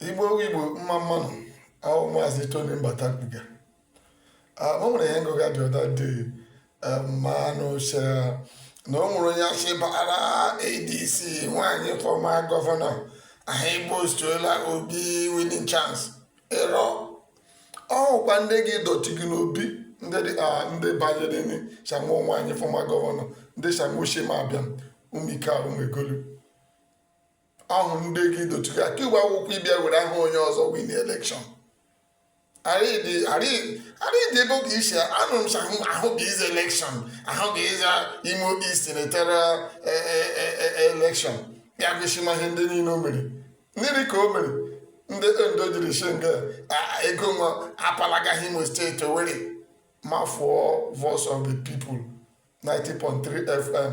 igbo igbo mma mma nụ ọ wụ maazị tony mbata kwuga o nwere ihe ngụga dị ọda dị mmanụ chere na o nwere onye a sị bara adc nwaanyị fọma gọvanọ a ga-iboostara obi winning chance ịrọ ọ wụkwa ndị gị dọtị gị n'obi ndị dị a ndị banyere ni shanwa nwaanyị fọma gọvanọ ndị shanwa ochie ma abịa ụmụike ahụ megolu ọ wụ ndị gị dotuga ka igwe akwụkwọ ịbịa were aha onye ọzọ win elekshọn arịdị ebe oge isi anụrụ m sa ahụ ga ịzọ elekshọn ahụ ga ịzọ imo east senatorial elekshọn ya gosima ihe ndị niile o mere mmiri ka o mere ndị ndo jiri shinga ego nwa apalagaghị imo steeti owere ma fụọ voice of the people 90.3 fm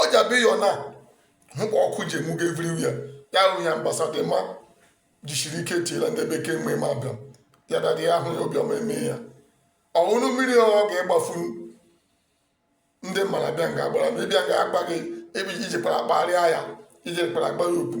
ọ ji abịa ịyọ na hụ ka ọkụ ji enwugo everywhere ya hụ ya mgbasa dị mma jisiri ike tiela ndị bekee mgbe ma abịa ya dadị ya ahụ ya obiọma eme ya ọṅụṅụ mmiri ọ ga-egbafu ndị mmadụ bịa nga agbara ma ịbịa ga agba gị ebe iji kpara kpagharịa ya iji kpara agba ya okwu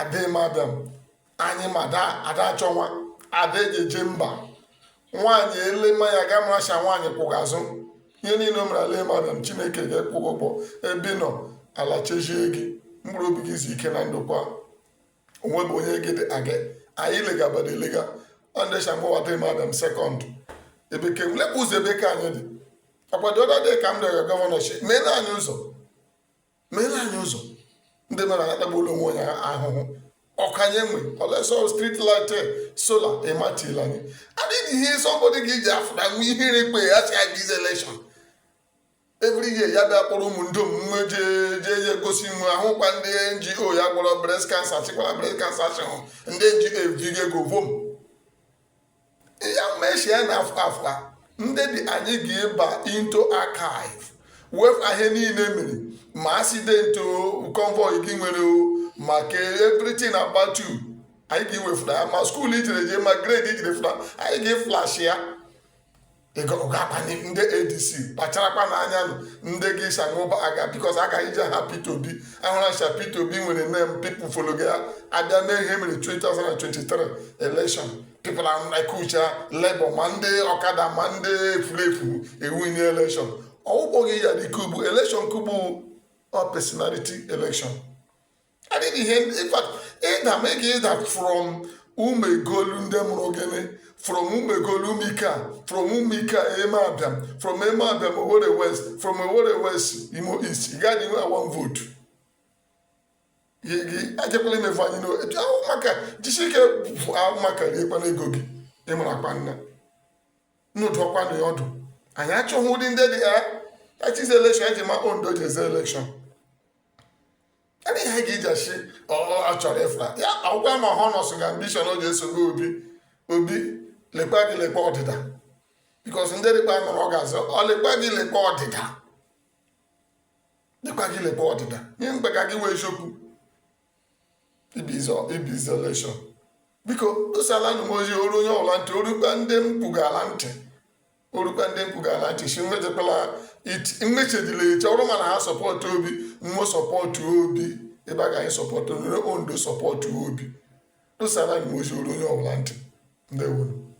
adị madam anyị ma ada achọ nwa ada eji eje mba nwaanyị e lema ya ga maracha nwaanyị kwụga azụ ihe niile o mere ala madam chineke ga-akwụ gị ụgwọ ebe ị nọ ala chechie gị mkpụrụ obi gị izu ike na ndokwa onwe bụ onye gị dị aga anyị legabada elega ọndesha mgbawata madam sekọnd ebe ke lekwa ụzọ ebe ka anyị dị ọkwadị ọdọ dị ka m rịọrọ gọvanọship meela anyị ụzọ meela anyị ụzọ ndị mmadụ atagbuola onwe ya ahụhụ ọkụ anyị enwe olesọ street light eh, sola ịmatila anyị adịghị ihe sọmbọdị gị ji afụta nwa ihere ikpe ya sị aga ịzọ elekshọn every year ya bịa kpọrọ ụmụ ndom jee jee ya egosi nwe ọ wụkwa ndị ngo ya gwọrọ breast cancer chịkwara breast cancer chịhụ ndị ngo ebigo ego vom ya mechie na afọ afọ a ndị be anyị ga-eba into archive wefụ ihe niile i mere ma accident o convoy gị nwere o ma ke everything about you anyị ga-ewefụta ya ma skuul i jere jee ma grade i jiri fụta anyị ga-eflash ya ndị adc kpacharakwanụ anya nụ ndị gị sanwụba aga bikos a ga-iji aha Peter Obi ahụra ncha Peter Obi nwere nem pipụl followga ya abịa mee ihe mere 2023 election pipụl ekucha Labour ma ndị ọkada ma ndị efulefu ewinie election ọ wụkpọghị ya dịka ugbu election ke ugbu ọ personality election adịghị ihe ịda ma ị ga-ịda from umuegolu ndị mụrụ gị nị from umuegolu umuikea from umuikea emeabiam from emeabiam owere west from owere west imo east ị gaghị inwe one votu ejekwala imefu anyị n'otu ahụ maka jisi ike ahụ maka riekwana ego gị ịmụrụ akpa nna unu dụọkwanụ ya ọdụ anyị achọghị ụdị ndị dị ya achịzi elekshọn eji ma ondo ji azọ elekshọn ebe ihe ga ijashi achọrọ ịfụra ya agwa ma ha nọsụga ambishọn o ji esogbu obi obi lekwa gị lekwa ọdịda bikos ndị dịkpa nụrụ ọ ga-azọ ọ lekwa gị lekwa ọdịda lekwa gị lekwa ọdịda ihe mgbe ka gị wee eziokwu ịbịa zọ elekshọn biko dosalanu m ozi o ruo onye ọbụla ntị o rukpa ndị m kwugala ntị o rukwa ndị m kwugala ntị sị mmechekwala mmechedila eche ọrụ mana ha sọpọtụ obi mmụọ sọpọtụ obi ebe a ga anyị sọpọtụ nere ondo sọpọtụ obi dosaranu m ozi o ruo onye ọbụla ntị ndewonu